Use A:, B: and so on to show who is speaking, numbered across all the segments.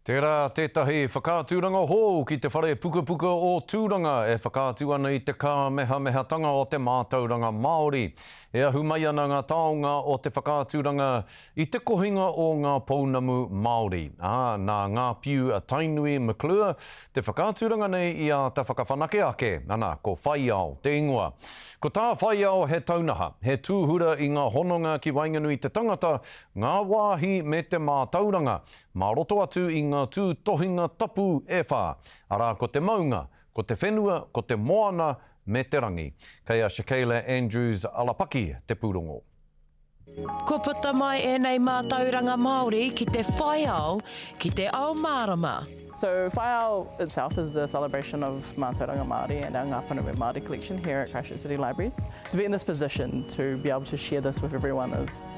A: Tērā tētahi whakaaturanga hou ki te whare pukapuka o Tūranga e whakaatu ana i te kāmehamehatanga o te mātauranga Māori. E ahu mai ana ngā taonga o te whakaaturanga i te kohinga o ngā pounamu Māori, ā, nā ngā piu a Tainui McClure te whakaaturanga nei i āta whakawhanake ake. Ana, ko Whaiao te ingoa. Ko tā Whaiao he taunaha, he tūhura i ngā hononga ki waenganui i te tangata, ngā wāhi me te mātauranga. mā roto atu i ngā tūtohinga tapu e whā, arā ko te maunga, ko te whenua, ko te moana me te rangi. Kei a Shakayla Andrews Alapaki te pūrongo.
B: Kua puta mai ēnei mātauranga Māori ki te whaiao, ki te ao mārama. So Whaiao
C: itself is the celebration of Mātauranga Māori and our Ngā Pounamu Māori collection here at Christchurch City Libraries. To be in this position to be able to share this with everyone is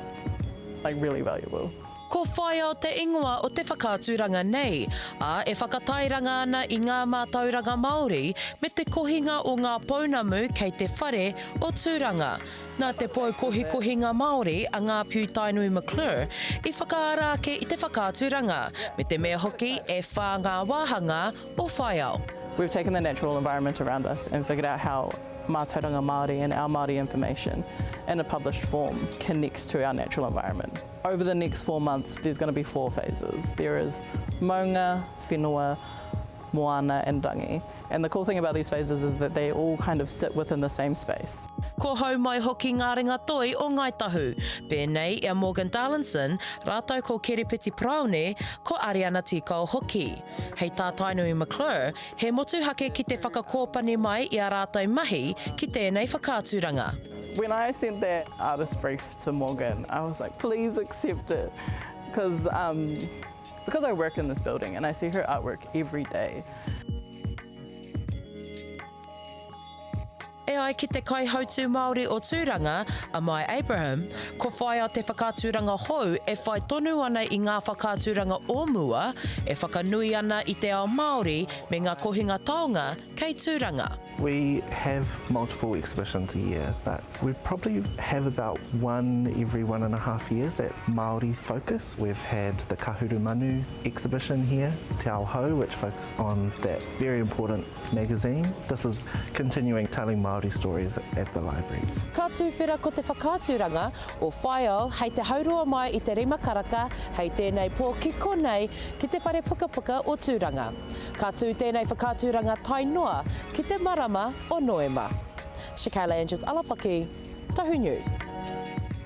C: like really valuable. Ko Whaiao
B: te ingoa o te whakaaturanga nei, ā, e whakatairanga ana i ngā mātauranga Māori me te kohinga o ngā pounamu kei te whare o Tūranga. Nā te pou kohikohinga Māori a Ngāpiu Tainui McClure i whakaara ake i te whakaaturanga, me te mea hoki e whā ngā wāhangā o Whaiao. We've taken the natural
C: environment around us and figured out how Mātauranga Māori and our Māori information in a published form connects to our natural environment. Over the next four months there's going to be four phases. There is Maunga, Whenua, Moana and Rangi. And the cool thing about these phases is that they all kind of sit within the same space. Ko Haumai
B: hoki ngā ringatoi o Ngāi Tahu, pēnei i a Morgan Darlinson rātou ko Kerepeti Paraone, ko Ariana Tīkao hoki. Hei tā Tainui McClure, he motuhake ki te whakakōpani mai i ā rātou mahi ki tēnei whakaaturanga. When I sent
C: that artist brief to Morgan I was like please accept it cause um because I work in this building and I see her artwork everyday.
B: E ai ki te kaihautū Māori o Tūranga, a Mai Abraham, ko Whaea te whakaaturanga hou e whai tonu ana i ngā whakaaturanga o mua e whakanui ana i te ao Māori me ngā kohinga taonga kei Tūranga. We have
D: multiple exhibitions a year but we probably have about one every one and a half years that's Māori focused. We've had the Kahuru Manu exhibition here, Te Ao Hou which focused on that very important magazine. This is continuing telling Māori stories at the library. Ka tūwhera ko
B: te whakaaturanga o Whaiao hei te hauroa mai i te rima karaka hei tēnei pō ki konei ki te whare pukapuka o Tūranga. Ka tū tēnei whakaaturanga tae noa ki te marama o Noema. Chicale Andrews-Alapaki, Tahu News.